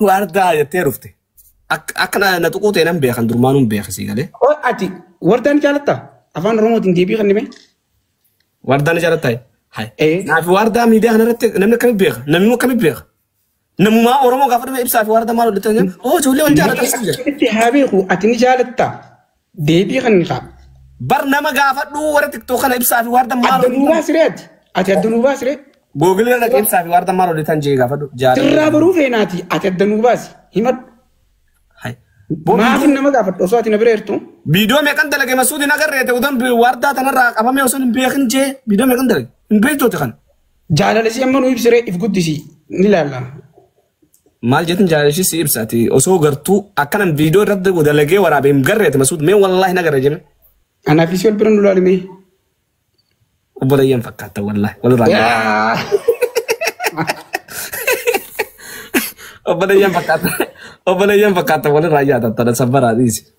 waardaa jettee dhufte. Akka akka na na tuquu ta'e nan beekan durmaan hin beekan sii galee. Qoy ati wardaa ni jaalatta? Afaan Oromootiin deebii kennime. Waardaa ni jaallattaa? Hai. Eh. Naafi waardaa miidiyaa kana irratti namni akkamitti beeka? Namni akkamitti beeka? Namumaa Oromoo gaafa dhufe ibsaa fi waardaa maal hojjetan jedhan. Oo ijoollee wal jaallatan. Itti haa beeku ati ni jaalatta. Deebii kannikaa. Bar nama gaafadhu warra tiktok kana ibsaa fi waardan maal Adda nuu baasi ree ati. Ati adda nuu baasi ree. Google irra dhaqee ibsaa fi waardan maal hojjetan jee gaafadhu. Sirraa baruu feenaati. Ati adda nuu baasi. Himadhu. Maafin nama gaafadhu osoo ati na bira jirtu. Biidoo meeqan dalage masuutiin agarreete udan waardaa tanarraa qabamee osoo hin beekin jee biidoo meeqan dalage hin beektooti kana. Jaalala si amma nu ibsiree if guddisi ni laalla. Maal jetin jaalashii si ibsa ati osoo gartuu akkanan viidiyoo irratti dalagee waraabe hin garre ati masuud mee wallaahi na garre jeme. Anaaf isii wal bira nu laalimee. Obbo Dayyan fakkaata wallaahi walirraa hin garre. Obbo Dayyan fakkaata obbo Dayyan fakkaata walirraa hin yaadatta sabbaraa dhiisi.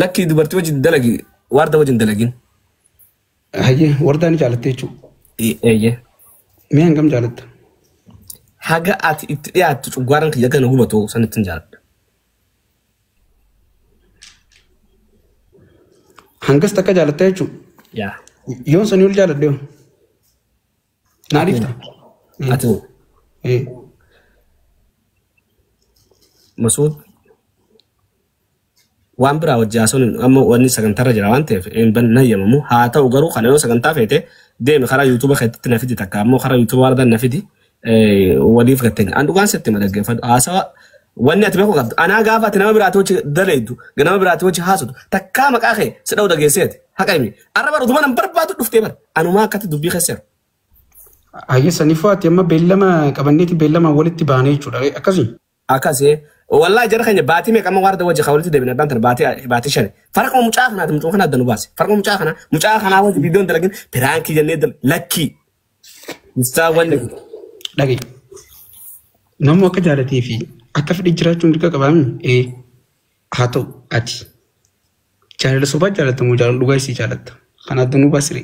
Lakkii dubartii wajjin dalagi waarda wajjin dalagin. Hayyee wardaa ni jaalattee jechuudha. Eeyyee. Mee hangam jaalatta? Haga ati itti dhiyaattu cuggaaraan kiyya gana hubatu san ittiin jaaladha. Hangas takka jaalatta jechuudha. Yaa. Yoon sanii ol jaaladhe hoo? Naa dhifta. Ati Eh, Masuud waan biraa wajji haasawuun amma wanni sagantarra jira waan ta'eef hin ban- hin hayyamamu. Haa ta'u garuu kana yoo sagantaa feete deemi karaa yuutuuba keetti na fidi takka ammoo karaa yuutuuba warra na fidi eh, waliif gattenya. An dhugaan sitti ma dhaggeeffadhu haasawa wanni ati beekuu qabdu. Anaa gaafa ati nama biraati wajji dalaydu nama biraati wajji haasawdu takkaa maqaa kee si dha'u dhageesseeti haqa himi Arra bara utuma nan barbaadu dhuftee bara. Anumaa akkatti dubbii keesseera. Hayyee sanifuu ati amma beellama qabanneeti beellama walitti baanee jechuudha akkasii. Akkasii wallaahi jara keenya baatii meeqa amma waarda wajji walitti deebina abbaan tana baatii baatii shani. Farquma mucaa kanaati mucaa kana adda nu baase. Farquma mucaa kanaa mucaa kanaa wajji viidiyoon dalagin piraankii jennee dal lakkii. Mistaa wanni. Dhaga'i. Namni akka jaalatee fi akka fedhe jiraachuun dirqa qabaami. Ee haa ta'u ati Jaalala sobaa jaalatta moo jaalala dhugaa isii jaalatta? Kan adda nu basire.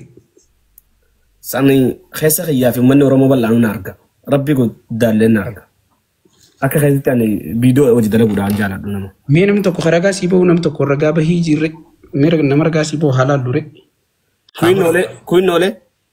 Sani keessa kiyyaa fi uummanni Oromoo bal'aanuu na arga. Rabbi guddaallee na arga. Akka keessatti ani viidiyoo hojii dalaguudhaan jaaladhu nama. Mee namni tokko kan ragaa sii bahu namni tokko ragaa bahii jirre mee nama ragaa sii bahu haalaan dure. Kuinnoolee kuinnoolee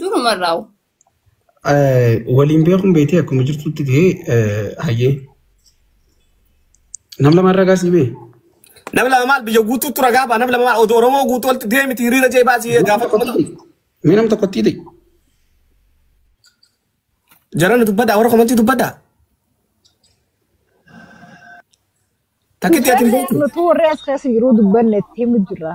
Duruma irraa Waliin beekuun beektee akkuma jirtutti ta'ee hayyee. Nam lama irraa gaasii bee. Namni lama maal biyya guutuutti ragaa ba'a namni lama maal oduu Oromoo guutuu walitti deemiti hiriira jee baasii gaafa kuma ta'u. Mee nam tokkotti ta'e. Jarana dubbadhaa warra komantii dubbadhaa. Takkitti ati hin beektu. Nutuu warri as keessa jiruu dubbanne itti himu jirra.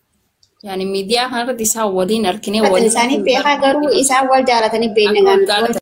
Yani miidiyaa kanarratti isaan waliin arkinee Kan waliin isaanii beekaa garuu isaan wal jaalatanii beekna Akka waggaa gaafatan.